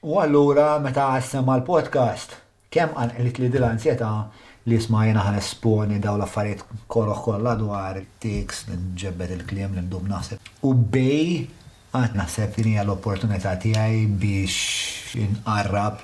U allura meta semma l-podcast, kemm qanqlitli din l-anzjetà li isma' jiena ħa nesponi dawn l-affarijiet koroh kollha dwar it-tics, li nġebbed il-kliem, li ndum naħseb. U bej għad naħseb din hija l-opportunità tiegħi biex inqarrab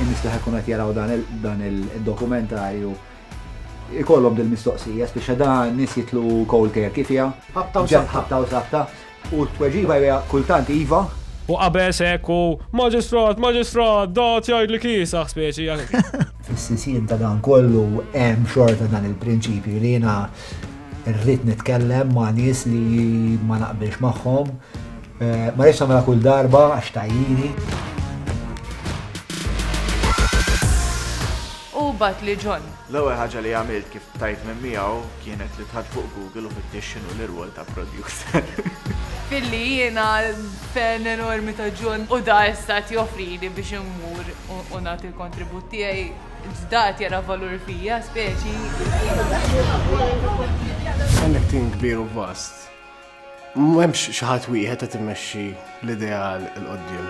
in-nies li ħajkunu qed jaraw dan il-dokumentarju ikollhom dil-mistoqsija, spiċċa dan nies jitlu cold turkey fiha. Ħabta u sabta. Ħabta u sabta. U t-tweġiba hija kultant iva. U qabeż hekk u Maġistrat, Maġistrat, da qed jgħidli kiesaħ speċi hekk. Fis-sisien ta' dan kollu hemm xorta dan il-prinċipju li jiena rrid nitkellem ma' nies li ma naqbilx magħhom. Ma rridx nagħmilha kull darba għax tgħajjini. U bat li John. L-ewwel ħaġa li għamilt kif tajt minn miegħu kienet li tħadd fuq Google u fittix x'inhu l-irwol ta' producer. Billi jiena fan enormi ta' John u da issa qed joffrili biex immur u nagħti l-kontribut tiegħi, da qed jara valur fija speċi. Għandek tim kbir u vast. M'hemmx xi ħadd wieħed qed imexxi l-ideal 'il quddiem.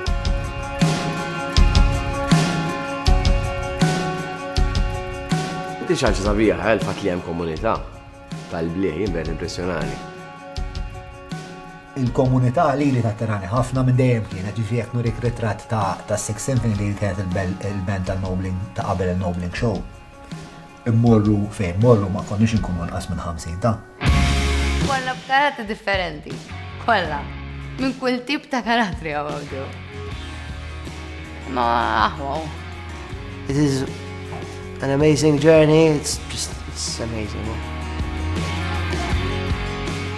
Inti xaġa sabiħa għal fat li hemm komunità tal-blieħ jimber impressjonali. Il-komunità li li tatterani ħafna minn dejjem kienet ġifri jekk nurik ritratt ta' Six Symphony li kienet il-band tal-Nobling ta' qabel il-Nobling Show. Immorru fejn morru ma konniex inkunu anqas minn 50 ta'. Kollha b'karattri differenti. Kollha. Minn kull tip ta' karattri hawn hawnġew. Ma aħwaw. It is an amazing journey, it's just it's amazing.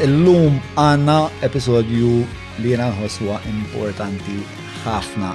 Illum għanna episodju li jena nħoswa importanti ħafna